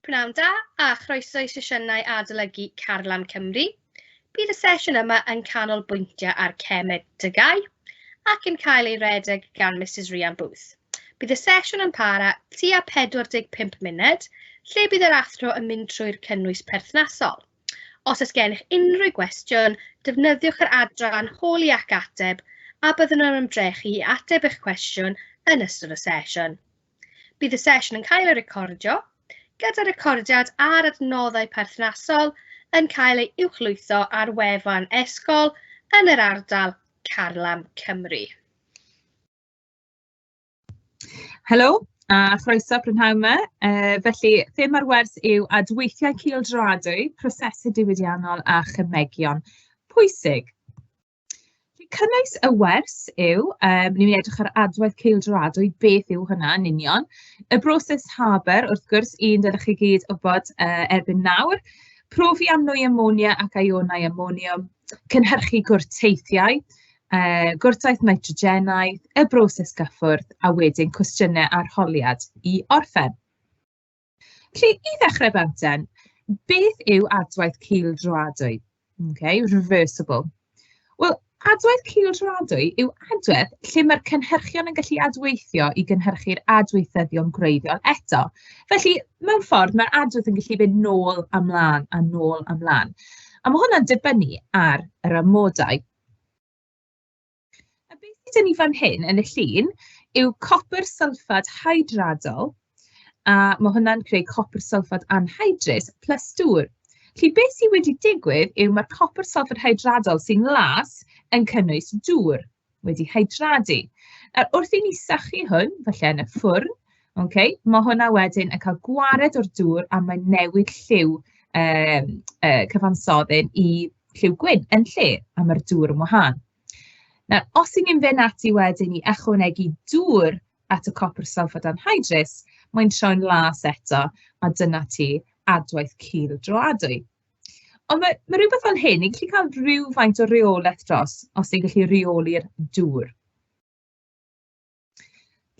Pnawn da a chroeso i sesiynau adolygu Carlam Cymru. Bydd y sesiwn yma yn canolbwyntio ar cemedygau ac yn cael ei redeg gan Mrs Rhian Booth. Bydd y sesiwn yn para tua 45 munud, lle bydd yr athro yn mynd trwy'r cynnwys perthnasol. Os oes gennych unrhyw gwestiwn, defnyddiwch yr adran Holi ac Ateb a byddwn yn ymdrechu i ateb eich cwestiwn yn ystod y sesiwn. Bydd y sesiwn yn cael ei recordio, gyda recordiad a'r adnoddau perthnasol yn cael ei uwchlwytho ar wefan Ysgol yn yr Ardal, Carlam, Cymru. Helo, a chroeso prynhawn 'ma. Yy, felly, thema'r wers yw adweithiau cylchgradwy, prosesau diwydiannol a chymegion pwysig. Cynnwys y wers yw, um, ni'n edrych ar adwaith ceildroadwy, beth yw hynna yn union. Y broses Haber, wrth gwrs, un dylech chi gyd wybod uh, erbyn nawr. Profi am nwy amonia ac ionau amoniwm, cynhyrchu gwrteithiau, Yy, gwrtaith nitrogenaidd, y broses gyffwrdd, a wedyn cwestiynau arholiad i orffen. Felly, i ddechrau bantsen, beth yw adwaith cildroadwy? Ocê, reversible. Wel, adwaith cildroadwy yw adwaith lle mae'r cynhyrchion yn gallu adweithio i gynhyrchu'r adweithyddion gwreiddiol eto. Felly, mewn ffordd, mae'r adwaith yn gallu mynd nôl a mlaen a nôl a mlaen. A ma' hwnna'n dibynnu ar yr amodau. A beth sydd gen ni fan hyn yn y llun yw copr sylffad hydradol, a ma' hwnna'n creu copr sylffad anhydrus plus dŵr. Felly beth sydd wedi digwydd yw mae'r copr sylffad hydradol sy'n las yn cynnwys dŵr wedi hydradu. Nawr wrth i ni sychu hwn, falle yn y ffwrn, Ok, ma' hwnna wedyn yn cael gwared o'r dŵr a mae'n newid lliw yym y cyfansoddyn i lliw gwyn yn lle, a ma'r dŵr yn wahân. Nawr, os 'y ni'n fynd ati wedyn i ychwanegu dŵr at y copr sulphate anhydrous, mae'n troi'n las eto, a dyna ti adwaith cul droadwy. Ond ma' ma' rywbeth fel hyn, ni'n gallu cael rywfaint o reolaeth dros os ni'n gallu reoli'r dŵr.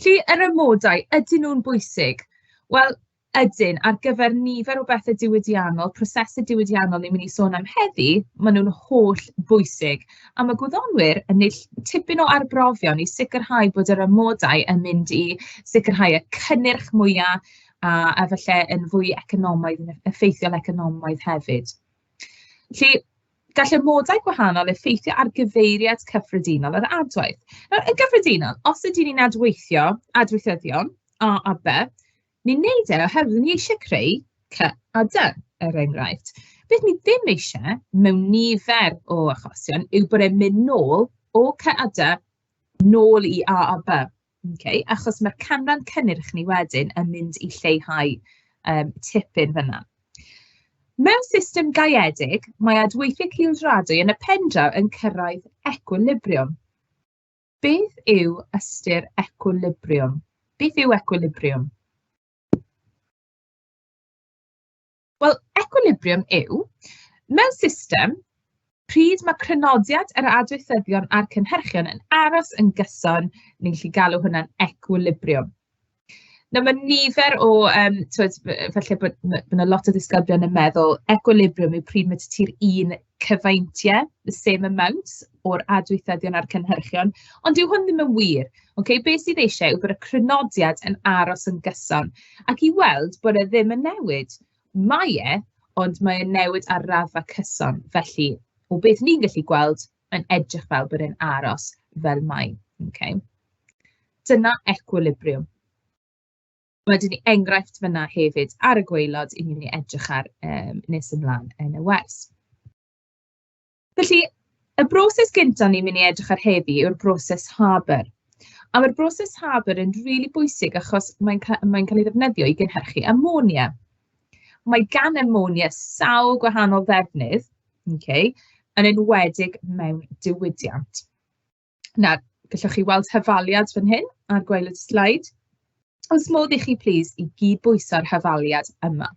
Felly, yr amodau, ydyn nhw'n bwysig? Wel, ydyn. Ar gyfer nifer o bethe diwydiannol, prosesau diwydiannol ni'n mynd i sôn am heddi, maen nhw'n hollbwysig. A ma' gwyddonwyr yn wneud ll- tipyn o arbrofion i sicrhau bod yr amodau yn mynd i sicrhau y cynnyrch mwya, a a falle yn fwy economaidd, yn effeithiol economaidd hefyd. Felly... Gall amodau gwahanol effeithio ar gyfeiriad cyffredinol yr adwaith. Nawr, yn gyffredinol, os ydyn ni'n adweithio adweithyddion A a B, ni'n wneud e oherwydd ni eisiau creu C a D, er enghraifft. Beth ni ddim eisiau, mewn nifer o achosion, yw bod e'n mynd nôl o C a D nôl i A a B. Ok, achos mae'r canran cynnyrch ni wedyn yn mynd i lleihau yym tipyn fan'na. Mewn system gaeedig, mae adweithiau cylliedradwy yn y pendraw yn cyrraedd ecwilibriwm. Beth yw ystyr ecwilibriwm? Beth yw ecwilibriwm? Wel, equilibrium yw, mewn system, pryd mae crynodiad yr adweithyddion a'r cynhyrchion yn aros yn gyson, ni'n gallu galw hwnna'n equilibrium. Nawr, mae nifer o, yym, tibod, falle bod ma' ma' 'na lot o ddisgyblion yn meddwl, equilibrium yw pryd mae 'da ti'r un cyfaintiau, the same amount, o'r adweithyddion a'r cynhyrchion. Ond dyw hwn ddim yn wir. Ocê, be sydd eisiau yw bod y crynodiad yn aros yn gyson, ac i weld bod e ddim yn newid. Mae e, ond mae e'n newid ar raddfa cyson. Felly, o beth ni'n gallu gweld, mae'n edrych fel bod e'n aros fel mae. Ocê. Dyna equilibriwm. Ma' 'da ni enghraifft fan'na hefyd ar y gwaelod, i'n ni'n ei edrych ar, yym, nes ymlaen yn y wers. Felly, y broses gynta o'n ni'n mynd i edrych ar heddi yw'r broses Harbour. A ma'r broses Harbour yn rili bwysig achos mae'n ca- mae'n cael ei ddefnyddio i gynhyrchu ammonia. Mae gan ammonia sawl gwahanol ddefnydd, ocê, yn enwedig mewn diwydiant. Na, gallwch chi weld hafaliad fan hyn ar gwaelod y sleid. Oes modd i chi plîs i gyd-bwyso'r hafaliad yma?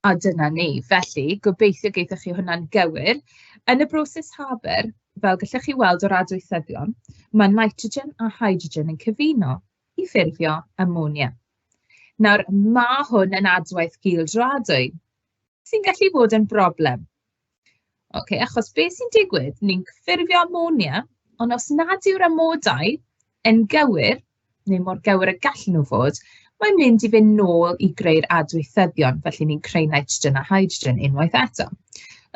A dyna ni. Felly, gobeithio gaethoch chi hwnna'n gywir. Yn y broses Haber, fel gallwch chi weld o'r adweithyddion, mae nitrogen a hydrogen yn cyfuno i ffurfio amonia. Nawr, mae hwn yn adwaith gildroadwy, sy'n gallu bod yn broblem. Ocê, achos be sy'n digwydd, ni'n ffurfio amonia, ond os nad yw'r amodau yn gywir, neu mor gywir y gallen nhw fod, mae'n mynd i fynd nôl i greu'r adweithyddion, felly ni'n creu nitrogen a hydrogen unwaith eto.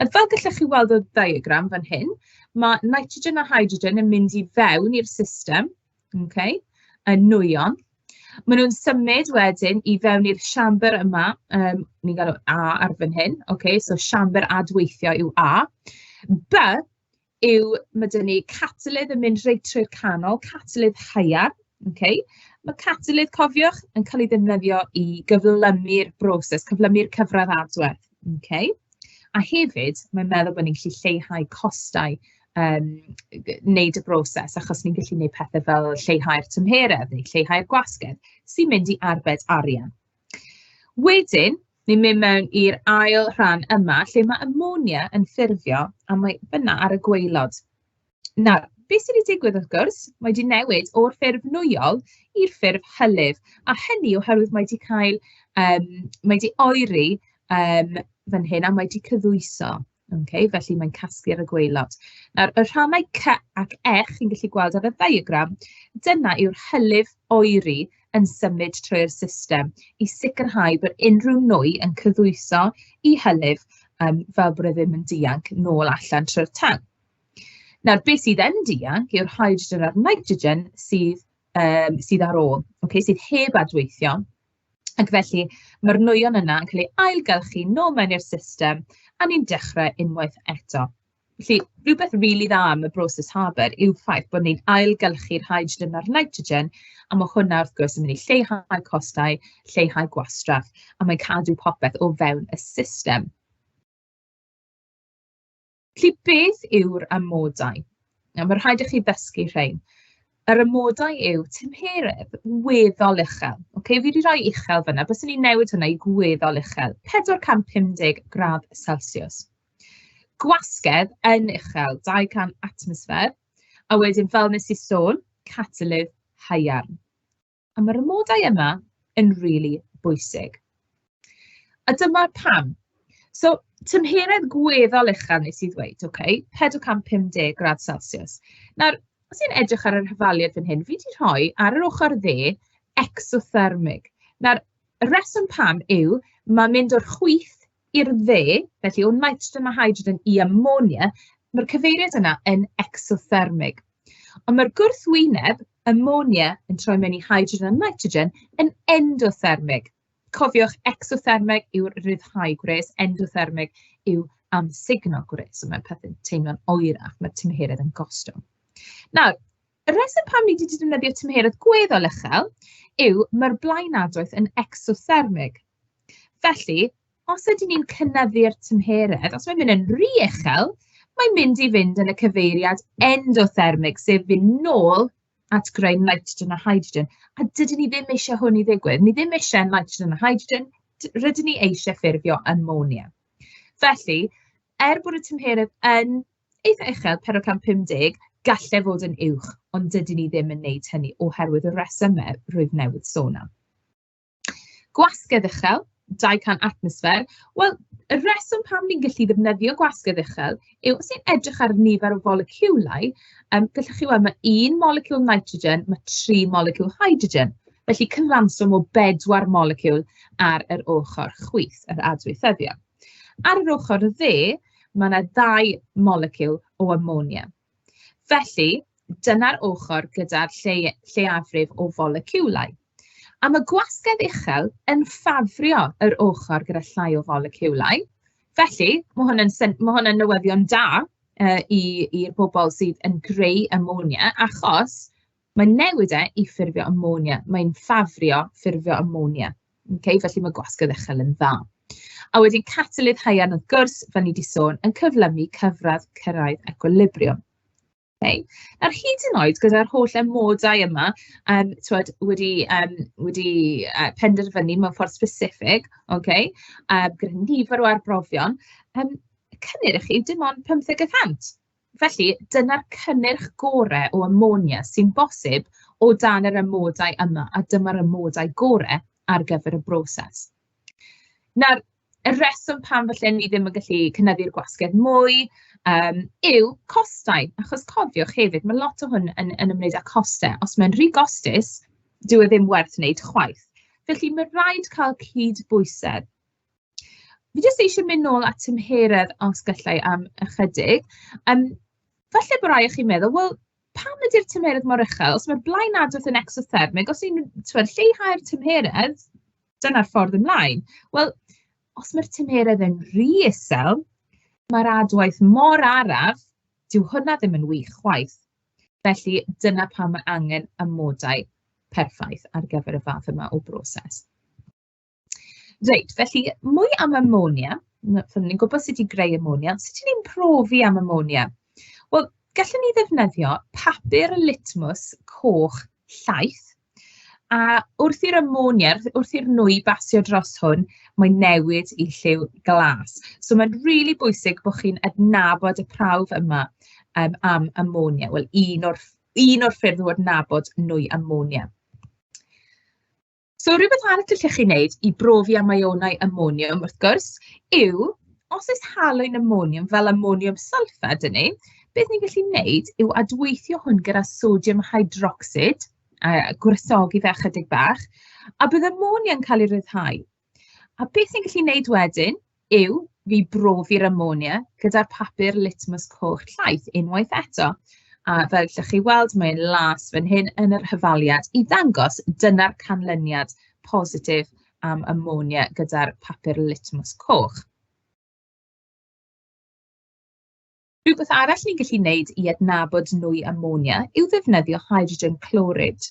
Fel gallwch chi weld o'r diagram fan hyn, mae nitrogen a hydrogen yn mynd i fewn i'r system, Ok, y nwyon. Maen nhw'n symud wedyn i fewn i'r siambr yma, yym, ni'n galw A ar fan hyn. Ok, so siambr adweithio yw A. B yw... ma' 'da ni catalydd yn mynd reit trwy'r canol, catalydd haearn. Ok, ma' catalydd, cofiwch, yn cael ei ddefnyddio i gyflymu'r broses, cyflymu'r cyfradd adwedd. Ok. A hefyd, mae'n meddwl bod ni'n gallu lleihau costau yym g- wneud y broses, achos ni'n gallu wneud pethe fel lleihau'r tymheredd neu lleihau'r gwasgedd, sy'n mynd i arbed arian. Wedyn, ni'n mynd mewn i'r ail rhan yma, lle ma' ammonia yn ffurfio, a mae fan'na ar y gwaelod. Nawr, be sy 'di digwydd wrth gwrs, mae 'di newid o'r ffurf nwyol i'r ffurf hylif, a hynny oherwydd mae 'di cael, yym, mae 'di oeri, yym, fan hyn, a mae 'di cyddwyso, ocê, felly mae'n casglu ar y gwaelod. Nawr, y rhannau cy ac ech chi'n gallu gweld ar y ddiagram, dyna yw'r hylif oeri yn symud trwy'r system i sicrhau bod unrhyw nwy yn cyddwyso i hylif, yym, fel bod e ddim yn dianc nôl allan trwy'r tân. Nawr, be sydd yn dianc yw'r hydrogen a'r nitrogen sydd yym sydd ar ôl, ocê, sydd heb adweithio. Ac felly, ma'r nwyon yna yn cael eu ailgylchu nôl mewn i'r system, a ni'n dechrau unwaith eto. Felly, rywbeth rili dda am y broses Haber yw'r ffaith bod ni'n ailgylchu'r hydrogen a'r nitrogen, a ma' hwnna, wrth gwrs, yn mynd i lleihau costau, lleihau gwastraff, a mae'n cadw popeth o fewn y system. Felly, beth yw'r amodau? Nawr, mae'n rhaid i chi ddysgu rhein. Yr amodau yw tymheredd weddol uchel. Ocê, fi 'di roi uchel fan'na, baswn i'n newid hwnna i gweddol uchel, 450 gradd celsiws. Gwasgedd yn uchel, 200 atmosffer, a wedyn fel wnes i sôn, catalydd haearn. A ma'r amodau yma yn rili bwysig. A dyma pam. So, tymheredd gweddol uchel wnes i ddweud, ok, 450 gradd Celsius. Nawr, os i'n edrych ar yr hyfaliad fan hyn, fi wedi rhoi ar yr ochr dde exothermig. Nawr, y reswm pam yw, mae mynd o'r chwith i'r dde, felly o nitrogen a hydrogen i ammonia, mae'r cyfeiriad yna yn exothermig. Ond mae'r gwrthwyneb, ammonia, yn troi mewn i hydrogen a nitrogen yn endothermig. Cofiwch, exothermig yw'r rhyddhau gwres, endothermig yw amsugno gwres. So mae pethau'n teimlo'n oerach, mae'r tymheredd yn gostwng. Nawr, y rheswm pam ni wedi defnyddio tymheredd gweddol uchel yw mae'r blaenadwaith yn exothermig. Felly, Os ydyn ni'n cynyddu'r tymheredd, os mae'n mynd yn rhy uchel, mae'n mynd i fynd yn y cyfeiriad endothermig, sef fynd nôl at greu nitrogen a hydrogen. A dydyn ni ddim eisiau hwn i ddigwydd. Ni ddim eisiau nitrogen a hydrogen, d- rydyn ni eisiau ffurfio ammonia. Felly, er bod y tymheredd yn eitha uchel, 450, gallai fod yn uwch, ond dydyn ni ddim yn wneud hynny oherwydd y rhesymau rwyf newydd sôn am. Gwasgedd uchel, 200 atmosffer. Wel, y rheswm pam ni'n gallu defnyddio gwasgedd uchel yw os ni'n edrych ar nifer o foleciwlau, yym, gallwch chi weld ma' un moleciwl nitrogen, ma' tri moleciwl hydrogen. Felly, cyfanswm o bedwar moleciwl ar yr ochr chwith, yr adweithyddion. Ar yr ochr dde, ma' 'na ddau moleciwl o amonia. Felly, dyna'r ochr gyda'r lle lleiafrif o foleciwlau. A mae gwasgedd uchel yn ffafrio yr ochr gyda llai o foleciwlau. Felly, mae hwn yn syn- mae hwn yn newyddion da yy i i'r bobl sydd yn creu amonia, achos Mae'n newid e i ffurfio amonia. Mae'n ffafrio ffurfio amonia. Okay? Felly mae gwasg y ddechel yn dda. A wedyn catalydd haearn wrth gwrs, fel ni wedi sôn, yn cyflymu cyfradd cyrraedd equilibrium. Okay. Nawr, hyd yn oed gyda'r holl amodau yma, um, twed, wedi, um, wedi uh, penderfynu mewn ffordd specific, okay, uh, gyda nifer o arbrofion, um, cynnyrch yw dim ond 50 y cant. Felly, dyna'r cynnyrch gorau o amonia sy'n bosib o dan yr amodau yma, a dyma'r amodau gorau ar gyfer y broses. Nawr, y rheswm pam falle ni ddim yn gallu cynyddu'r gwasgedd mwy um, yw costau. Achos cofiwch hefyd, mae lot o hwn yn, yn ymwneud â costau. Os mae'n rhy gostus, dyw e ddim werth wneud chwaith. Felly mae rhaid cael cyd bwysedd. Fi jyst eisiau mynd nôl at tymheredd, os galla i, am ychydig. Yym, falle bo' rai o chi'n meddwl, "wel, pam ydi'r tymheredd mor uchel? Os mae'r blaen adrodd yn ecsothermig, os ni'n, tibod, lleihau'r tymheredd, dyna'r ffordd ymlaen." Wel, os mae'r tymheredd yn rhy isel, mae'r adwaith mor araf, dyw hwnna ddim yn wych chwaith. Felly, dyna pam mae angen amodau perffaith ar gyfer y fath yma o broses. Reit, felly mwy am amonia. N- so ni'n gwybod sut i greu amonia, ond sut 'y ni'n profi am amonia? Wel, gallwn ni ddefnyddio papur litmws coch llaeth, a wrth i'r amonia, wrth i'r nwy basio dros hwn, mae'n newid i lliw glas. So mae'n rili bwysig bod chi'n adnabod y prawf yma yym am amonia. Wel, un o'r ff- un o'r ffyrdd o adnabod nwy amonia. So rywbeth arall allwch chi wneud i brofi am ïonau amoniwm, wrth gwrs, yw os oes halwyn amoniwm fel amoniwm sylffad 'da ni, beth ni'n gallu wneud yw adweithio hwn gyda sodiwm hydrocsid, a gwresogi fe ychydig bach, a bydd amonia yn cael ei ryddhau. A beth ni'n gallu wneud wedyn yw fi brofi'r amonia gyda'r papur litmus coch llaeth unwaith eto, a fel allwch chi weld, mae'n las fan hyn yn yr hafaliad i ddangos dyna'r canlyniad positif am amonia gyda'r papur litmus coch. Rhywbeth arall ni'n gallu wneud i adnabod nwy amonia yw ddefnyddio hydrogen clorid.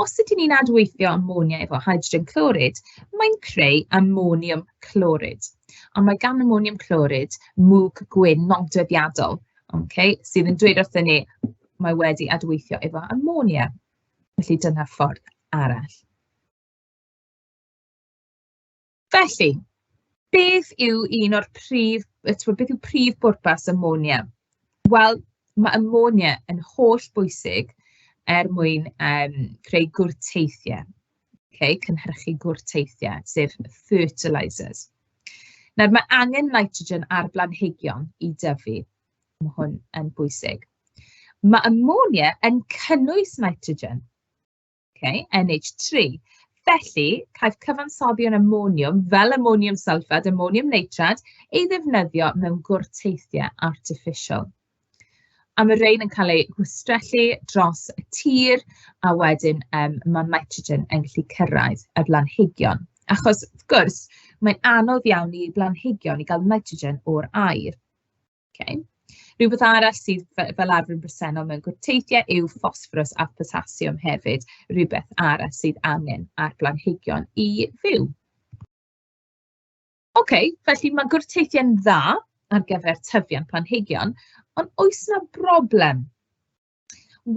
Os ydyn ni'n adweithio amonia efo hydrogen clorid, mae'n creu amoniwm clorid. A mae gan amoniwm clorid mwg gwyn nodweddiadol, ocê, sydd yn dweud wrthyn ni mae wedi adweithio efo amonia. Felly dyna ffordd arall. Felly, beth yw un o'r prif... yy timod, beth yw prif bwrpas Monia? Wel, ma' Monia yn hollbwysig er mwyn, yym, creu gwrteithiau, ocê, cynhyrchu gwrteithiau, sef fertilisers. Nawr, ma' angen nitrogen ar blanhigion i dyfu, ma' hwn yn bwysig. Ma' Monia yn cynnwys nitrogen. Ok, NH3. Felly, caiff cyfansoddion amoniwm, fel amoniwm sylffad, amoniwm neitrad, ei ddefnyddio mewn gwrteithiau artiffisial. A mae rhain yn cael eu gwistrellu dros y tir, a wedyn um, mae nitrogen yn gallu cyrraedd y blanhigion. Achos, wrth gwrs, mae'n anodd iawn i blanhigion i gael nitrogen o'r aer. Ok. Rhywbeth arall sydd fe- fel arfer yn bresennol mewn gwrteithiau yw ffosffrws a photasiwm hefyd, rywbeth arall sydd angen ar blanhigion i fyw. Ok, felly mae gwrteithiau'n dda ar gyfer tyfiant planhigion, ond oes 'na broblem?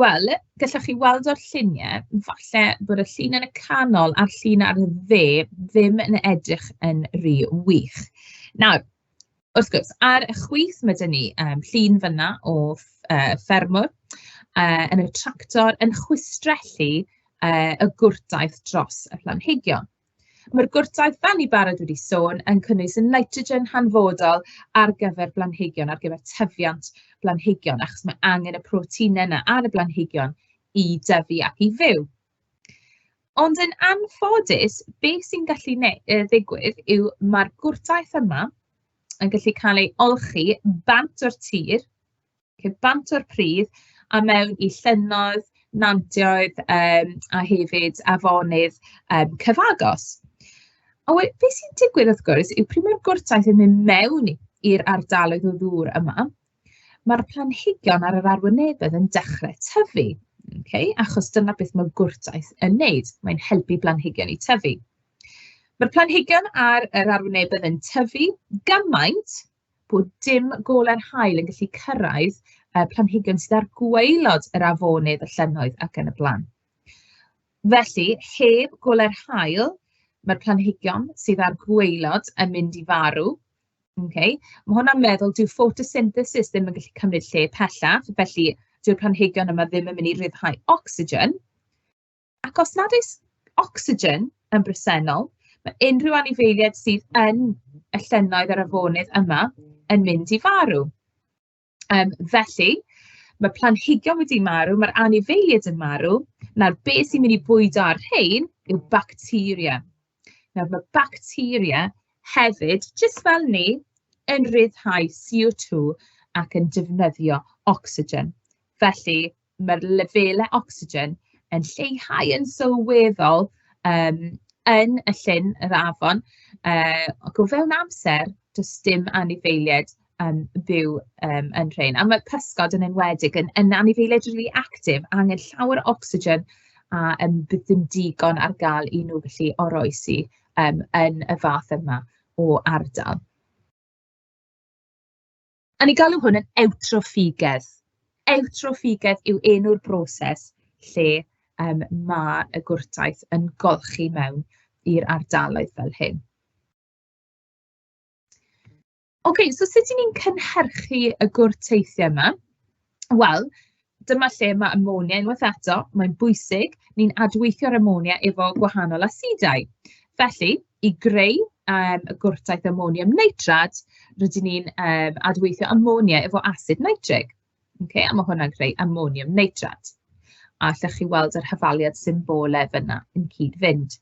Wel, gallwch chi weld o'r lluniau, falle bod y llun yn y canol a'r llun ar y dde ddim yn edrych yn rhy wych. Nawr, wrth gwrs, ar y chwith mae 'da ni yym llun fan'na o ff- yy ffermwr yy yn y tractor yn chwistrellu yy y gwrtaith dros y planhigion. Mae'r gwrtaith, fel ni'n barod wedi sôn, yn cynnwys y nitrogen hanfodol ar gyfer blanhigion, ar gyfer tyfiant blanhigion, achos mae angen y proteinau yna ar y blanhigion i dyfu ac i fyw. Ond yn anffodus, be sy'n gallu ddigwydd yw mae'r gwrtaith yma yn gallu cael ei olchi bant o'r tir, Felly, bant o'r pridd a mewn i llynnoedd, nantioedd, yym, a hefyd afonydd, yym, cyfagos. A we- be sy'n digwydd, wrth gwrs, yw pryd mae'r gwrtaith yn mynd mewn i'r ardaloedd o ddŵr yma, mae'r planhigion ar yr arwynebedd yn dechrau tyfu, ok? Achos dyna beth mae gwrtaith yn wneud, mae'n helpu planhigion i tyfu. Ma'r planhigion ar yr arwynebedd yn tyfu gymaint... bod dim goler haul yn gallu cyrraedd y planhigion sydd ar gwaelod yr afonydd, y llynnoedd ac yn y blaen. Felly, heb goler haul, mae'r planhigion sydd ar gwaelod yn mynd i farw. Okay. Mae hwnna'n meddwl dyw photosynthesis ddim yn gallu cymryd lle pellach, felly dyw'r planhigion yma ddim yn mynd i ryddhau ocsigen. Ac os nad oes ocsigen yn bresennol, mae unrhyw anifeiliaid sydd yn y llynnoedd a'r afonydd yma yn mynd i farw. Yym, felly, mae planhigion wedi marw, mae'r anifeiliaid yn marw. Nawr, be sy'n mynd i bwydo ar rhein yw bacteria. Nawr, mae bacteria hefyd, jyst fel ni, yn rhyddhau CO2 ac yn defnyddio ocsigen. Felly, mae'r lefelau ocsigen yn lleihau yn sylweddol, yym, yn y llyn, yr afon, yy, ac o fewn amser, does dim anifeiliaid yn byw, yym, yn rhein. A ma' pysgod yn enwedig yn yn anifeiliaid rili actif, angen llawer o ocsigen, a yym bydd dim digon ar gael i nhw gallu oroesi, yym, yn y fath yma o ardal. A ni'n galw hwn yn ewtroffígedd. Ewtroffígedd yw enw'r broses lle, yym, ma' y gwrtaith yn golchi mewn i'r ardaloedd fel hyn. Ocê, so sut 'y ni'n cynhyrchu y gwrteithiau 'ma? Wel, dyma lle ma' amonia unwaith eto, mae'n bwysig, ni'n adweithio'r amonia efo gwahanol asedau. Felly, i greu, yym, y gwrtaith amoniwm nitrad, rydyn ni'n, yym, adweithio amonia efo asid nitrig, ocê, a ma' hwnna'n creu amoniwm nitrad, a allwch chi weld yr hafaliad symbolau fan'na yn cyd-fynd.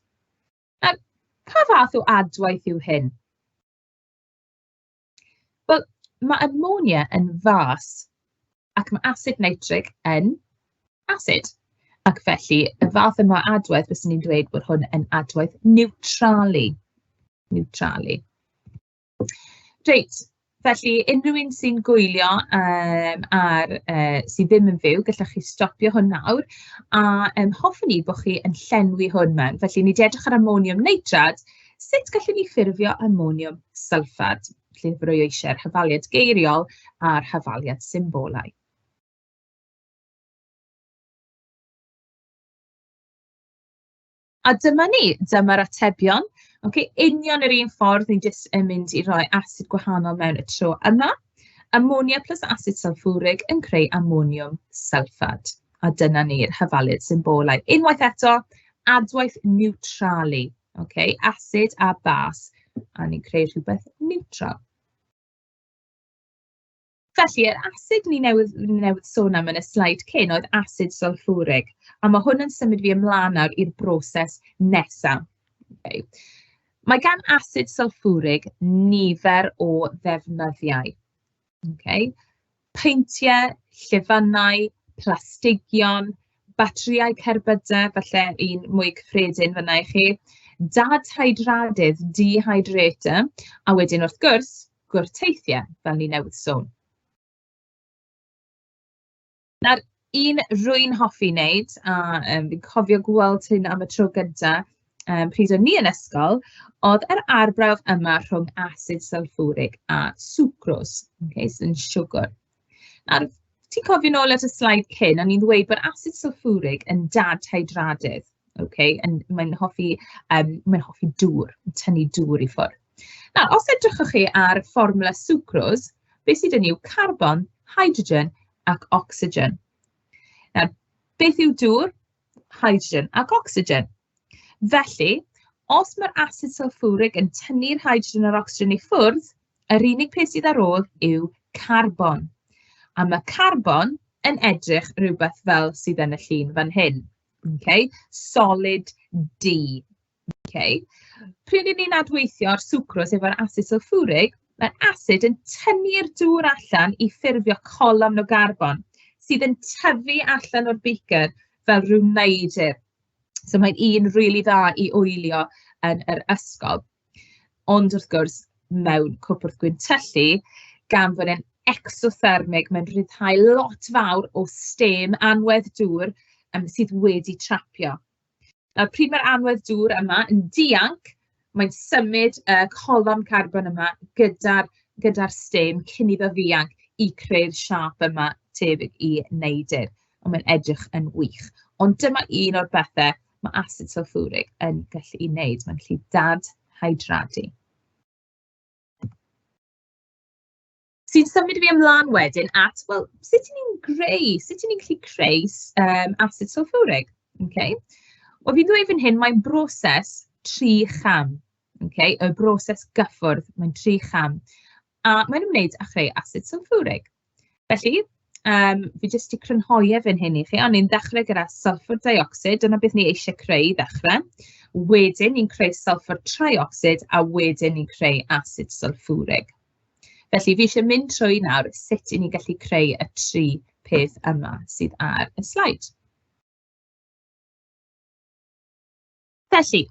Nawr, pa fath o adwaith yw hyn? Wel, ma' ammonia yn fas, ac ma' asid nitric yn asid. Ac felly, y fath yma o adwaith, fyswn i'n dweud bod hwn yn adwaith niwtralu. Niwtralu. Reit, felly unrhyw un sy'n gwylio, yym, ar yy... sy ddim yn fyw, gallwch chi stopio hwn nawr, a yym hoffwn i bod chi yn llenwi hwn mewn. Felly, ni 'di edrych ar amoniwm neitrat. Sut gallwn ni ffurfio amoniwm sylffad? Felly, fe roi o eisiau yr hafaliad geiriol a'r hafaliad symbolau. A dyma ni, dyma'r atebion. Ocê, union yr un ffordd, ni'n jyst yn mynd i roi asid gwahanol mewn y tro yma. Amonia plus asid sylffwrig yn creu amoniwm sylffad. A dyna ni'r hafaliad symbolau. Unwaith eto, adwaith niwtralu Ok, asid a bas. A ni'n creu rhywbeth niwtral. Felly, yr asid ni newydd ni newydd sôn am yn y sleid cyn oedd asid sylffwrig, a ma' hwn yn symud fi ymlaen nawr i'r broses nesa. Ok. Mae gan asid sylffwrig nifer o ddefnyddiau. Ocê. Peintiau, llifynnau, plastigion, batris cerbydau, falle un mwy cyffredin fan'na i chi, dad hydraulig, dehydrator, a wedyn wrth gwrs, gwrteithiau, fel o'n i newydd sôn. Nawr, un rwy'n hoffi wneud, a yym fi'n cofio gweld hyn am y tro gynta, yym, pryd o'n ni yn ysgol, oedd yr arbrawf yma rhwng asid sylffwrig a swcrws, ocê, sdim siwgr. Nawr, ti'n cofio nôl at y sleid cyn, o'n i'n ddweud bod asid sylffwrig yn dad-hydradydd, ocê, yn... mae'n hoffi yym mae'n hoffi dŵr, tynnu dŵr i ffwrdd. Nawr, os edrychwch chi ar fformwla swcrws, be sydd yn yw carbon, hydrogen ac ocsigen. Nawr, beth yw dŵr? Hydrogen ac ocsigen. Felly, os mae'r asid sulfuric yn tynnu'r hydrogen a'r ocsigen i ffwrdd, yr unig peth sydd ar ôl yw carbon. A mae carbon yn edrych rhywbeth fel sydd yn y llun fan hyn. Okay? Solid D. Ok. Pryd 'yn ni'n adweithio'r swcrose efo'r asid sylffwrig, mae'r asid yn tynnu'r dŵr allan i ffurfio colofn o garbon, sydd yn tyfu allan o'r beaker fel ryw neidr. So mae'n un rili dda i oelio yn yr ysgol. Ond wrth gwrs, mewn cwpwrdd gwyntyllu, gan fod e'n ectothermig, mae'n rhyddhau lot fawr o stêm anwedd dŵr yym sydd wedi trapio. A pryd mae'r anwedd dŵr yma yn dianc, mae'n symud y colofn carbon yma gyda'r gyda'r stem cyn iddo ddianc i creu'r siâp yma tebyg i neidr. Ond mae'n edrych yn wych. Ond dyma un o'r pethe ma' asid sylffwrig yn gallu'i wneud, mae'n gallu dad-hydradu. Sy'n symud fi ymlaen wedyn at, wel, sut 'y ni'n greu... sut 'y ni'n gallu creu s- yym asid sylffwrig, ocê? Wel, fi'n dweud fan hyn, mae'n broses tri cham, ocê? Y broses gyffwrdd, mae'n tri cham, a mae'n ymwneud â chreu asid sylffwrig. Felly, yym, fi jyst 'di crynhoi e fan hyn i chi, a ni'n dechrau gyda sylffwr deuocsid, dyna beth ni eisiau creu i ddechrau. Wedyn ni'n creu sylffwr triocsid, a wedyn ni'n creu asid sylffwrig. Felly, fi isie mynd trwy nawr sut 'y ni'n gallu creu y tri peth yma sydd ar y sleid. Felly,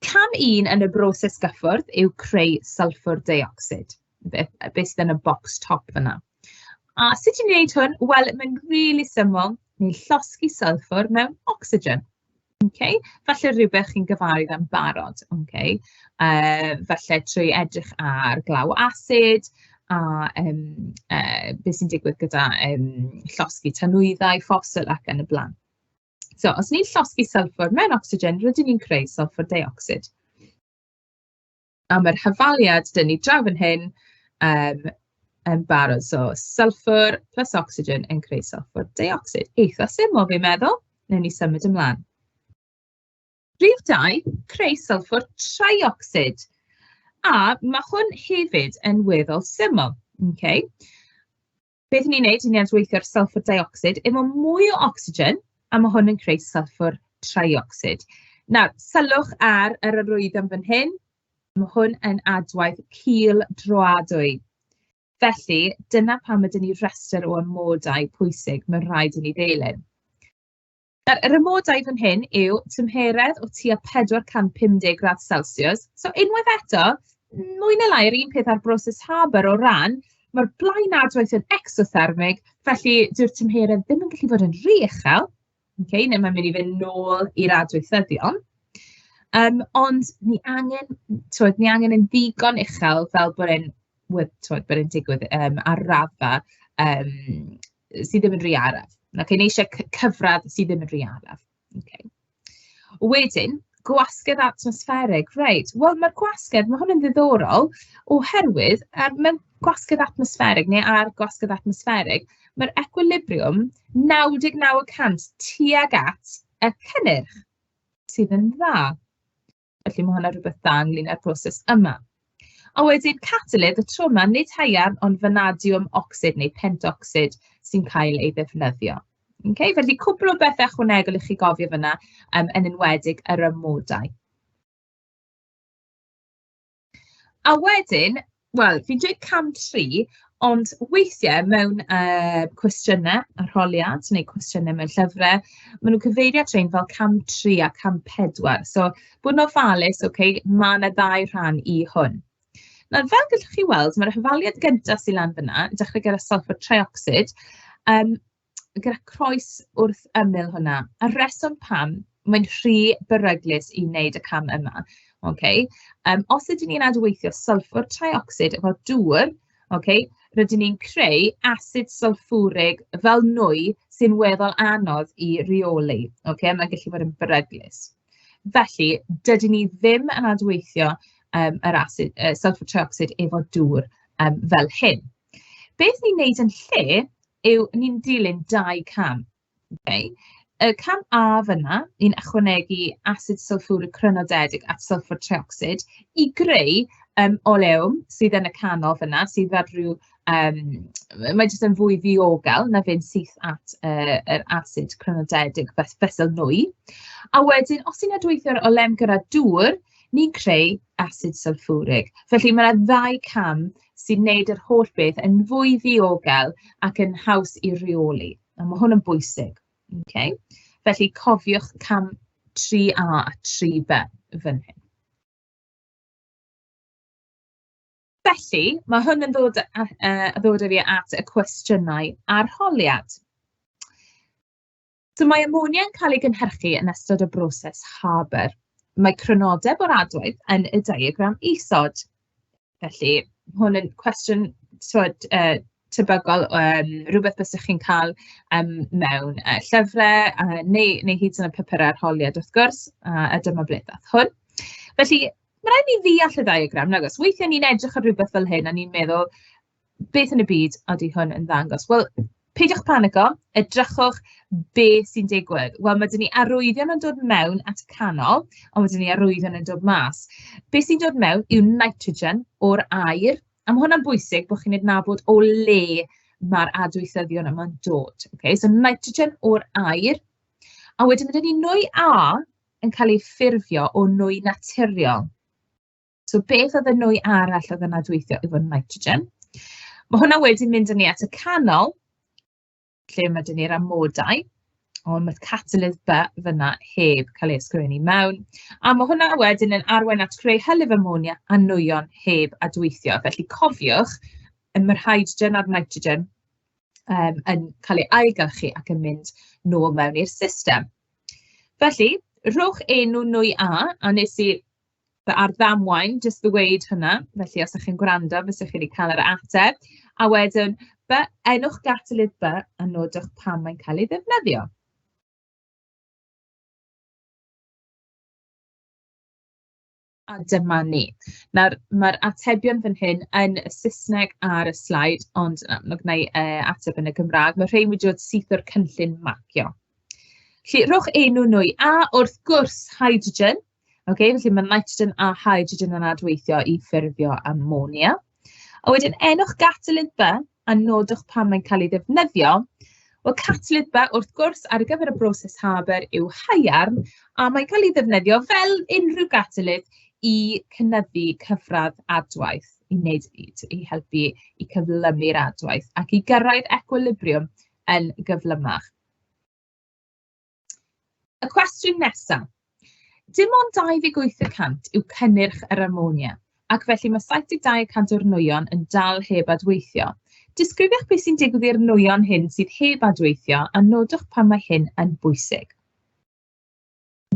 cam un yn y broses gyffwrdd yw creu sylffwr deuocsid, be be sydd yn y bocs top fan'na. A sut i wneud hwn? Wel, mae'n rili syml, ni'n llosgi sylffwr mewn ocsigen. Ok, falle rywbeth chi'n gyfarwydd â'n barod. Ok, yy falle trwy edrych ar glaw asid a yym yy be sy'n digwydd gyda yym llosgi tanwyddau, ffosil ac yn y blaen. So os ni'n llosgi sylffwr mewn ocsigen, rydyn ni'n creu sylffwr deuocsid. am yr hafaliad dan ni draw fan hyn yym yn barod. So sylffwr plus ocsigen yn creu sylffwr deuocsid. Eitha syml fi'n meddwl. Wnawn ni symud ymlaen. Rhif dau, creu sylffwr triocsid. A ma' hwn hefyd yn weddol syml, okay? Beth 'y ni'n wneud yw ni'n adweithio'r sylffwr deuocsid efo mwy o ocsigen, a ma' hwn yn creu sylffwr triocsid. Nawr, sylwch ar yr arwyddion fan hyn, ma' hwn yn adwaith cul droadwy. Felly, dyna pam ma' 'da ni rhestr o amodau pwysig ma' raid i ni ddilyn. Nawr, yr amodau fan hyn yw tymheredd o tua 450 gradd celsiws. So unwaith eto, mwy neu lai yr un peth â'r broses Haber o ran, mae'r blaenadwaith yn exothermig, felly dyw'r tymheredd ddim yn gallu bod yn rhy uchel, okay, neu mae'n mynd i fynd nôl i'r adweithyddion. Um, ond ni angen, twyd, ni angen yn ddigon uchel fel bod e'n, twyd, bod e'n digwydd um, ar raddfa um, sy ddim yn rhy araf. Nawr chi, ni isie c- cyfradd sy ddim yn rhy araf. Ok. Wedyn, gwasgedd atmosfferig. Reit, wel ma'r gwasgedd, ma' hwn yn ddiddorol, oherwydd er mewn gwasgedd atmosfferig neu ar gwasgedd atmosfferig, mae'r equilibriwm 99 y cant tuag at y cynnyrch, sydd yn dda. Felly ma' hwnna'n rhywbeth da ynglŷn â'r proses yma. A wedyn catalydd y tro 'ma, nid haearn, ond fanadiwm ocsid neu pentocsid sy'n cael ei ddefnyddio. Ok, felly cwpl o bethe ychwanegol i chi gofio fan'na, yym, yn enwedig yr amodau. A wedyn, wel, fi'n dweud cam tri, ond weithiau mewn, yy, cwestiynau arholiad neu cwestiynau mewn llyfrau, maen nhw'n cyfeirio at rhein fel cam tri a cam pedwar. So, bod yn ofalus, ok, ma' 'na ddau rhan i hwn. Nawr, fel gallwch chi weld, ma'r hafaliad gynta sy lan fan'na, dechrau gyda sylffar treuocsid, yym... gyda croes wrth ymyl hwnna. A'r rheswm pam mae'n rhy beryglus i wneud y cam yma, ocê, yym, os ydyn ni'n adweithio sylffwr traiocsid efo dŵr, ocê, rydyn ni'n creu asid sylffwrig fel nwy sy'n weddol anodd i reoli, ocê, mae'n gallu bod yn beryglus. Felly, dydyn ni ddim yn adweithio yym yr asid yy sylffwr traiocsid efo dŵr yym fel hyn. Beth ni'n wneud yn lle yw ni'n dilyn dau cam. ok? Y cam A fan'na, ni'n ychwanegu asid sylffwrig crynodedig at sylffwr treuocsid i greu yym oleum sydd yn y canol fan'na, sydd fel ryw yym... mae jyst yn fwy ddiogel na fynd syth at yy yr asid crynodedig fes- fesul nwy. A wedyn, os ti'n adweithio'r oleum gyda dŵr, ni'n creu asid sylffwrig. Felly, mae'r ddau cam. sy'n wneud yr holl beth yn fwy ddiogel ac yn haws i reoli, a ma' hwn yn bwysig, ocê. Felly cofiwch cam 3A a 3B fan hyn. Felly, ma' hwn yn ddod a yy ddod â fi at y cwestiynau arholiad. So mae ammonia yn cael ei gynhyrchu yn ystod y broses Haber. Mae crynodeb o'r adwaith yn y diagram isod. Felly, ma' hwn yn cwestiwn, timod, yy, tebygol o, yym, rywbeth fysa chi'n cael, yym, mewn, yy, llyfrau, yy, neu neu hyd yn oed papurau arholiad, wrth gwrs, a a dyma ble ddaeth hwn. Felly, ma' raid i ni ddeall y ddiagram, nag oes? Weithiau ni'n edrych ar rywbeth fel hyn a ni'n meddwl, beth yn y byd ydy hwn yn ddangos? Wel, peidiwch panico, edrychwch be sy'n digwydd. Wel, ma' 'da ni arwyddion yn dod mewn at y canol, ond wedyn ni arwyddion yn dod mas. Be sy'n dod mewn yw nitrogen o'r aer, a ma' hwnna'n bwysig bod chi'n adnabod o le ma'r adweithyddion yma'n dod. Ocê, so nitrogen o'r aer, a wedyn ma' 'da ni nwy A yn cael ei ffurfio o nwy naturiol. So beth oedd y nwy arall oedd yn adweithio efo nitrogen? Ma' hwnna wedyn mynd â ni at y canol, lle ma' 'da ni'r amodau, ond mae'r catalydd By fan'na heb cael ei ysgrifennu mewn. A ma' hwnna wedyn yn arwain at greu hylif amonia a nwyon heb adweithio. Felly cofiwch, y ma'r hydrogen a'r nitrogen yym yn cael eu ailgylchu ac yn mynd nôl mewn i'r system. Felly, rhowch enw nwy A, a wnes i fy arddamwain jyst ddweud hynna. Felly, os dach chi'n gwrando, fysa chi wedi cael yr ateb. A wedyn, by, enwch Gatalid By a nodwch pam mae'n cael ei ddefnyddio. A dyma ni. Nawr, mae'r atebion fan hyn yn y Saesneg ar y sleid, ond na, ma' gynna i yy ateb yn y Gymraeg. Mae'r rhein wedi dod syth o'r cynllun mapio. Felly, rhowch enw nwy, a wrth gwrs, hydrogen. Ok, felly ma' nitrogen a hydrogen yn adweithio i ffurfio amonia. A wedyn enwch gatalydd B a nodwch pam mae'n cael ei ddefnyddio. Wel, catalydd B, wrth gwrs, ar gyfer y broses Haber yw haearn, a mae'n cael ei ddefnyddio fel unrhyw gatalydd i cynyddu cyfradd adwaith, i wneud i t- i helpu i cyflymu'r adwaith ac i gyrraedd ecwilibriwm yn gyflymach. Y cwestiwn nesaf. Dim ond 28 y cant yw cynnyrch yr amonia, ac felly mae 72 y cant o'r nwyon yn dal heb adweithio. Disgrifiwch beth sy'n digwydd i'r nwyon hyn sydd heb adweithio a nodwch pan mae hyn yn bwysig.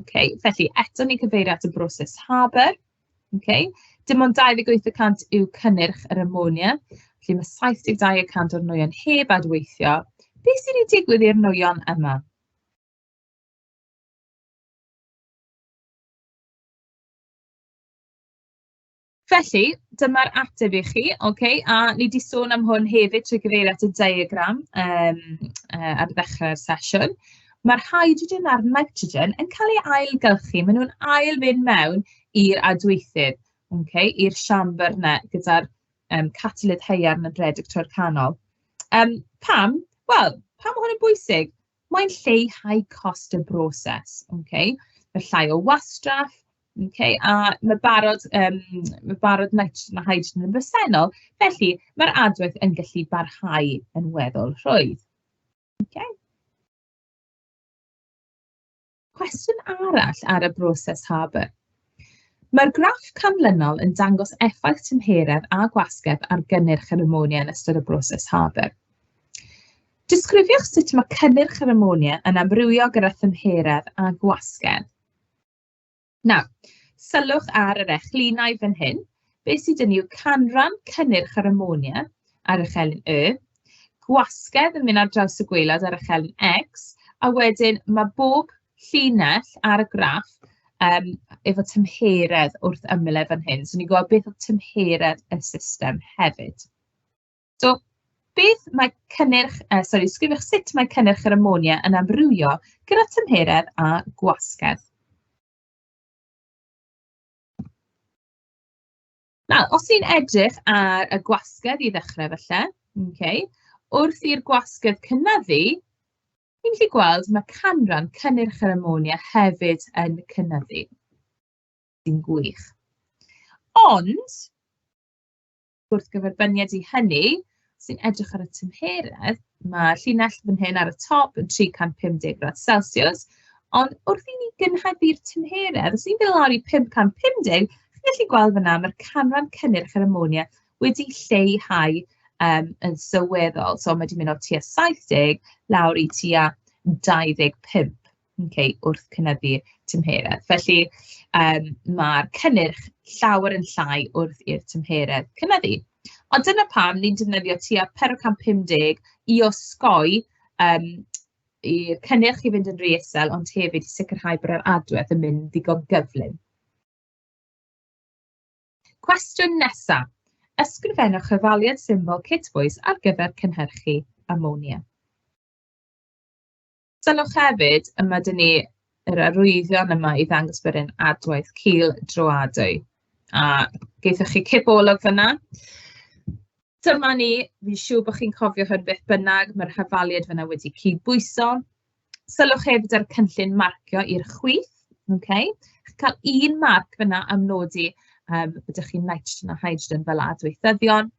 Ok, felly eto ni'n cyfeirio at y broses Haber. Ok, dim ond 28 y cant yw cynnyrch yr amonia, felly ma' 72 y cant o'r nwyon heb adweithio. Be sy 'di digwydd i'r nwyon yma? Felly, dyma'r ateb i chi, ok, a ni 'di sôn am hwn hefyd trwy gyfeirio at y diagram yym yy ar ddechrau'r sesiwn. ma'r hydrogen a'r nitrogen yn cael eu ailgylchu. Maen nhw'n ail fynd mewn i'r adweithydd, ocê, i'r siambr 'na gyda'r yym catalydd haearn a rhedeg trwy'r canol. Yym, pam? Wel, pam mae hwn yn bwysig? Mae'n lleihau cost y broses, ocê. Mae llai o wastraff, ocê, a ma' barod yym ma' barod nitrogen a hydrogen yn bresennol, felly ma'r adweith yn gallu barhau yn weddol rhwydd. Ocê. Cwestiwn arall ar y broses Harbour. Mae'r graff canlynol yn dangos effaith tymheredd a gwasgedd ar gynnyrch yr amonia yn ystod y broses Harbour. Disgrifiwch sut mae cynnyrch yr amonia yn amrywio gyda thymheredd a gwasgedd. Nawr, sylwch ar yr echlinau fan hyn. Be sy 'da ni yw canran cynnyrch yr amonia ar y chelyn Y, gwasgedd yn mynd ar draws y gwaelod ar y chelyn X, a wedyn mae bob llinell ar y graff yym efo tymheredd wrth ymyl e fan hyn. So ni'n gweld beth oedd tymheredd y system hefyd. So beth mae cynnyrch... yy sori, sgwrwch sut mae cynnyrch yr ammonia yn amrywio gyda tymheredd a gwasgedd. Nawr, os ni'n edrych ar y gwasgedd i ddechrau falle, ok, wrth i'r gwasgedd cynyddu, ni'n gallu gweld mae canran cynnyrch yr ammonia hefyd yn cynyddu. Sy'n gwych. Ond, gwrthgyferbyniad i hynny, os ti'n edrych ar y tymheredd, ma' llinell fan hyn ar y top yn 350 gradd celsiws, ond wrth i ni gynhyrfu'r tymheredd, os ni'n mynd lawr i 550, chi'n gallu gweld fan'na, ma'r canran cynnyrch yr amonia wedi lleihau yym yn sylweddol. So ma' 'di mynd o tua 70 lawr i tua 25. Ok, wrth cynyddu tymheredd. Felly, yym, ma'r cynnyrch llawer yn llai wrth i'r tymheredd cynyddu. Ond dyna pam ni'n defnyddio tua pedwar cant pum deg i osgoi, yym, i'r cynnyrch i fynd yn rhy isel, ond hefyd i sicrhau bod yr adwedd yn mynd ddigon gyflym. Cwestiwn nesa. Ysgrifennwch chyfaliad symbol Kitbois ar gyfer cynhyrchu amonia. Sylwch hefyd, y ma' 'da ni yr arwyddion yma i ddangos bod e'n adwaith cul droadwy, a geithoch chi cip o olwg fan'na. Dyma ni, fi'n siŵr bod chi'n cofio hwn beth bynnag, ma'r hafaliad fan'na wedi cydbwyso. Sylwch hefyd ar y cynllun marcio i'r chwith, ok? Chi'n cael un marc fan'na am nodi, yym, bod 'da chi nitrogen a hydrogen fel adweithyddion.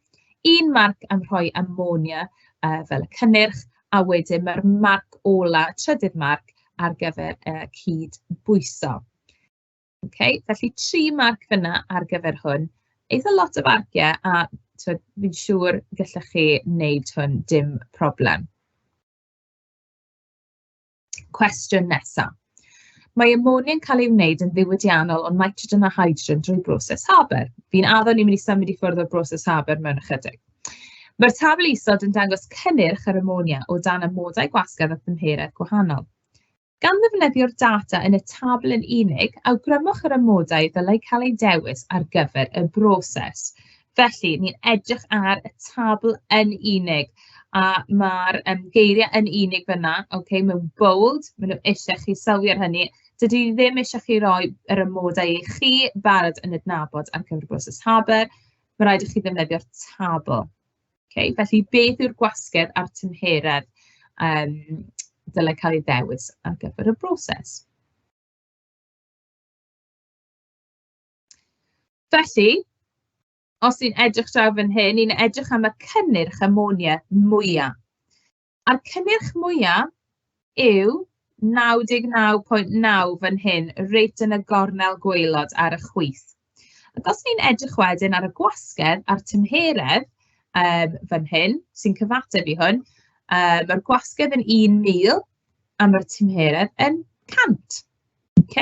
Un marc am rhoi amonia yy fel y cynnyrch, a wedyn ma'r marc ola, trydydd marc, ar gyfer y cyd-bwyso. Ok, felly tri marc fan'na ar gyfer hwn. Eitha lot o farciau, a timod, fi'n siŵr gallech chi wneud hwn dim problem. Cwestiwn nesa. Mae amonia'n cael ei wneud yn ddiwydiannol o nitrogen a hydrogen drwy broses Haber. Fi'n addo ni'n mynd i symud i ffwrdd o'r broses Haber mewn ychydig. Mae'r tabl isod yn dangos cynnyrch yr amonia o dan amodau gwasgedd a thymheredd gwahanol. Gan ddefnyddio'r data yn y tabl yn unig, awgrymwch yr amodau ddylai cael eu dewis ar gyfer y broses. Felly, ni'n edrych ar y tabl yn unig, a ma'r, yym, geiriau yn unig fan'na, ok, mewn bold. Maen nhw isie chi sylwi ar hynny. Dydyn ni ddim isie chi roi yr amodau i chi barod yn adnabod ar gyfer y broses HABR. Mae'n rhaid i chi ddefnyddio'r tabl. Ok, felly beth yw'r gwasgedd a'r tymheredd yym dylai cael ei ddewis ar gyfer y broses? Felly, os ni'n edrych draw fan hyn, ni'n edrych am y cynnyrch amonia mwya. A'r cynnyrch mwya yw 99.9 fan hyn, reit yn y gornel gwaelod ar y chwith. Ac os ni'n edrych wedyn ar y gwasgedd a'r tymheredd um, fan hyn, sy'n cyfateb i hwn, um, mae'r gwasgedd yn 1,000 a mae'r tymheredd yn 100. Ok,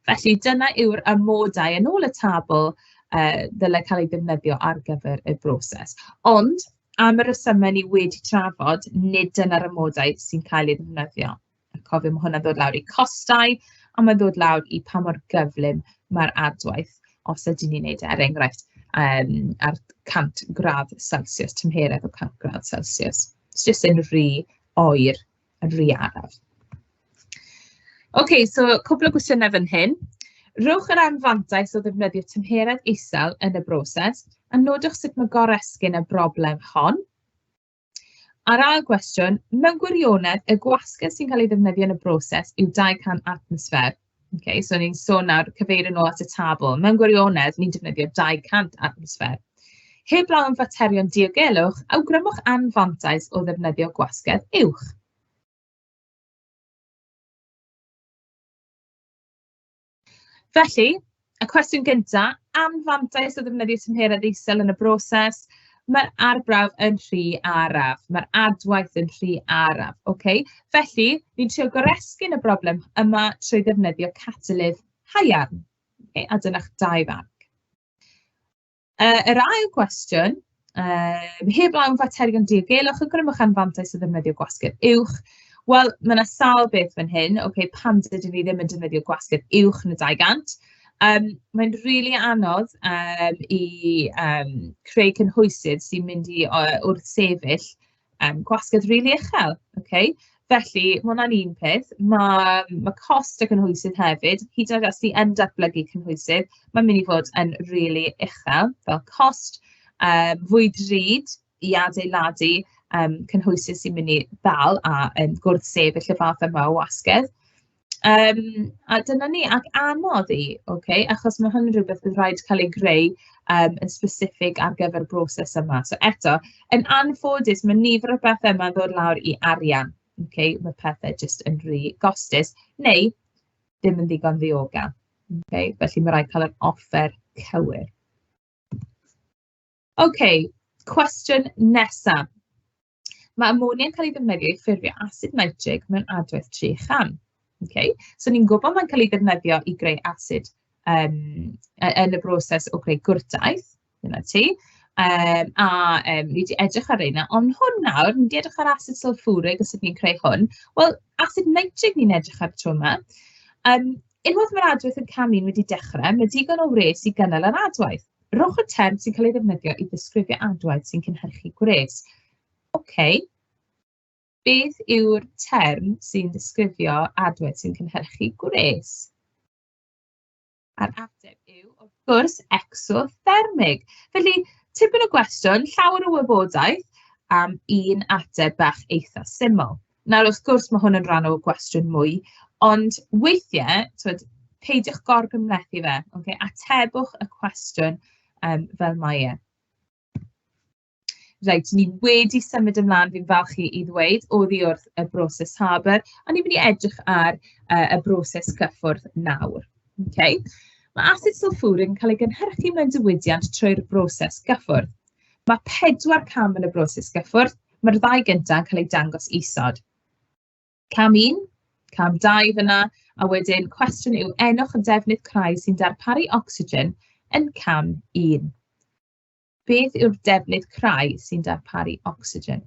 felly dyna yw'r amodau yn ôl y tabl yy ddylai cael eu defnyddio ar gyfer y broses. Ond am y rhesymau ni wedi trafod, nid dyna'r amodau sy'n cael eu defnyddio. A cofio, ma' hwnna'n dod lawr i costau, a mae'n dod lawr i pa mor gyflym mae'r adwaith, os ydyn ni'n wneud e, er enghraifft, yym, ar 100 gradd Celsius, tymheredd o 100 gradd Celsius. Jyst yn rhy oer. yn rhy araf. Ocê, so cwpl o gwestiynau fan hyn. Rhowch yr anfantais o ddefnyddio tymheredd isel yn y broses, a nodwch sut mae goresgyn y broblem hon. A'r ail gwestiwn, mewn gwirionedd, y gwasgedd sy'n cael ei ddefnyddio yn y broses yw 200 atmosffer. Ok, so ni'n sôn nawr, cyfeirio'n ôl at y tabl. Mewn gwirionedd, ni'n defnyddio 200 atmosffer. Heblaw am faterion diogelwch, awgrymwch anfantais o ddefnyddio gwasgedd uwch. Felly, Y cwestiwn gyntaf, anfantais o ddefnyddio tymheredd isel yn y broses. Mae'r arbrawf yn rhy araf, mae'r adwaith yn rhy araf. Ocê, felly ni'n trio goresgyn y broblem yma trwy ddefnyddio catalydd haearn. Ocê, a dyna'ch dau farc. Yy, yr ail gwestiwn, yym, heb law am faterion diogelwch, a gwnimwch am fantais o ddefnyddio gwasgedd uwch. Wel, ma' 'na sawl beth fan hyn. Ocê, pam dydyn ni ddim yn defnyddio gwasgedd uwch na 200? Yym, mae'n rili anodd, yym, i, yym, creu cynhwysydd sy'n mynd i, yy, wrthsefyll, yym gwasgedd rili uchel, ocê. Felly ma' hwnna'n un peth. Ma' ma' cost y cynhwysydd hefyd, hyd yn oed os ti yn datblygu cynhwysydd, mae'n mynd i fod yn rili uchel fel cost. Yym, fwy drud i adeiladu, yym, cynhwysydd sy'n mynd i ddal a yym gwrth-sefyll y fath yma o wasgedd. Yym, a dyna ni. Ac anodd i, ocê, achos ma' hwn yn rywbeth fydd rhaid cael ei greu, yym, yn specific ar gyfer y broses yma. So eto, yn anffodus, ma' nifer o bethe 'ma'n dod lawr i arian, ocê. Ma' pethe jyst yn rhy gostus, neu ddim yn ddigon ddiogel, ocê. Felly ma' raid cael yr offer cywir. Ocê, cwestiwn nesa. Mae amonia'n cael ei ddefnyddio i ffurfio asid nitrig mewn adwaith tri chan. Okay? So ni'n gwybod mae'n cael ei ddefnyddio i greu asid um, yn y broses o greu gwrtaith, dyna ti. Um, a um, ni wedi edrych ar reina, ond hwn nawr, ni wedi edrych ar asid sulfwrig a sut ni'n creu hwn. Wel, asid nitrig ni'n edrych ar tro yma. Um, unwaith mae'r adwaith yn cam un wedi dechrau, mae digon o wres i gynnal yr adwaith. Rhowch y term sy'n cael ei ddefnyddio i ddisgrifio adwaith sy'n cynhyrchu gwres. OK. Beth yw'r term sy'n disgrifio adwaith sy'n cynhyrchu gwres? A'r ateb yw, wrth gwrs, exothermig. Felly, tipyn o gwestiwn, llawer o wybodaeth am un ateb bach eitha syml. Nawr, wrth gwrs, ma' hwn yn rhan o gwestiwn mwy, ond weithiau, timod, peidiwch gorgymhlethu fe, ocê. Atebwch y cwestiwn yym fel mae e. Reit, ni wedi symud ymlaen, fi'n falch i i ddweud, oddi wrth y broses Harbour, a ni'n mynd i edrych ar yy y broses cyffwrdd nawr. Ocê. Ma' asid sylffwrig yn cael ei gynhyrchu mewn diwydiant trwy'r broses gyffwrdd. Ma' pedwar cam yn y broses gyffwrdd. Mae'r ddau gynta yn cael eu dangos isod. Cam 1, cam 2 fan'na, a wedyn cwestiwn yw enwch y defnydd crai sy'n darparu ocsigen yn cam 1. Beth yw'r defnydd crai sy'n darparu ocsigen?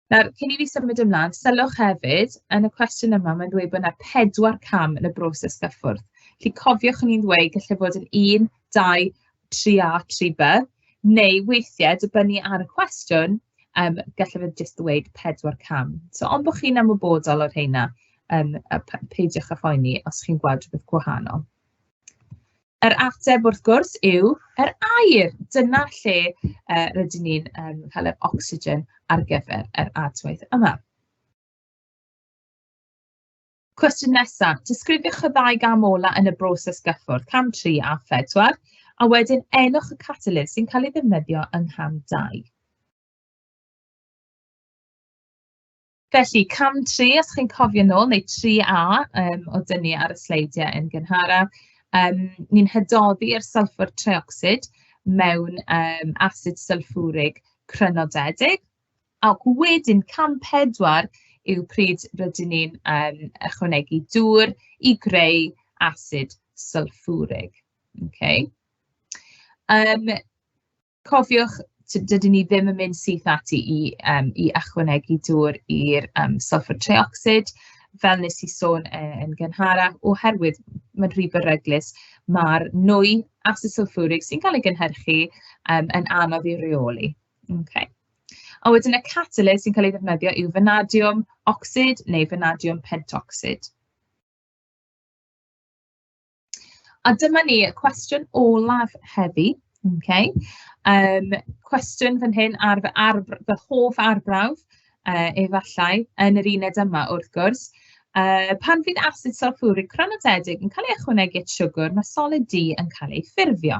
Nawr, cyn i fi symud ymlaen, sylwch hefyd, yn y cwestiwn yma, mae'n dweud bod yna pedwar cam yn y broses gyffwrdd. Felly cofiwch ni'n ddweud, gallai fod yn un, dau, tri a tri B, neu weithiau, dibynnu ar y cwestiwn, yym, gallai fe jyst ddweud pedwar cam. So, ond bod chi'n ymwybodol o'r rheina, yym, a p- peidiwch â phoeni os chi'n gweld rhywbeth gwahanol. Yr ateb, wrth gwrs, yw yr aer. Dyna lle uh, rydyn ni'n um, cael yr ocsigen ar gyfer yr adwaith yma. Cwestiwn nesa. Disgrifiwch y ddau gam ola yn y broses gyffwrdd, cam 3 a 4, a wedyn enwch y catalydd sy'n cael ei ddefnyddio yng ngham 2. Felly, cam 3, os chi'n cofio nôl, neu 3A um, o dynnu ar y sleidiau yn gynharaf, um, ni'n hydoddi'r sylffwr treocsid mewn um, asid sylffwrig crynodedig. Ac wedyn cam pedwar yw pryd rydyn ni'n yym ychwanegu dŵr i greu asid sylffwrig. Ocê. Yym cofiwch, t- dydyn ni ddim yn mynd syth ati i yym i ychwanegu dŵr i'r yym sylffwr treuocsid, fel wnes i sôn yy yn gynharach, oherwydd mae'n rhy beryglus. Ma'r nwy asid sylffwrig sy'n cael ei gynhyrchu yym yn anodd ei reoli. Ok. A wedyn y catalyst sy'n cael ei ddefnyddio yw fanadiwm ocsid neu fanadiwm pentocsid. A dyma ni, y cwestiwn olaf heddi. Ok. Yym, cwestiwn fan hyn ar fy arb- fy hoff arbrawf, yy, efallai, yn yr uned yma wrth gwrs. Yy, pan fydd asid sylffwrig cronadedig yn cael ei ychwanegu at siwgr, mae solid du yn cael ei ffurfio.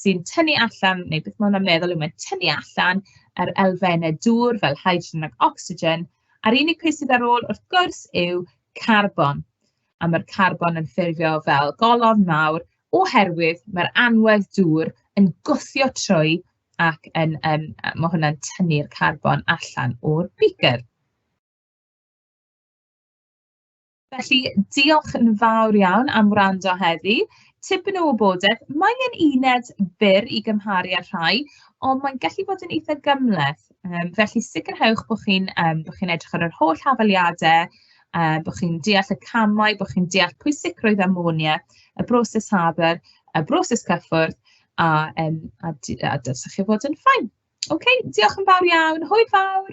sy'n tynnu allan, neu beth ma' hwnna'n meddwl yw, mae'n tynnu allan yr elfennau dŵr fel hydrogen ac ocsigen, a'r unig peth sydd ar ôl, wrth gwrs, yw carbon. A mae'r carbon yn ffurfio fel golofn mawr oherwydd mae'r anwedd dŵr yn gwthio trwy ac yn, yn, mae hwnna'n tynnu'r carbon allan o'r beaker. Felly, diolch yn fawr iawn am wrando heddi. Tipyn o wybodaeth, mae e'n uned byr i gymharu â'r rhai, ond mae'n gallu bod yn eitha gymhleth. Yym, felly sicrhewch bod chi'n yym bod chi'n edrych ar yr holl hafaliadau, yy bod chi'n deall y camau, bod chi'n deall pwysigrwydd amonia, y broses Haber, y broses cyffwrdd, a yym a d- a dylsech chi fod yn fine. Ok, diolch yn fawr iawn. Hwyl fawr!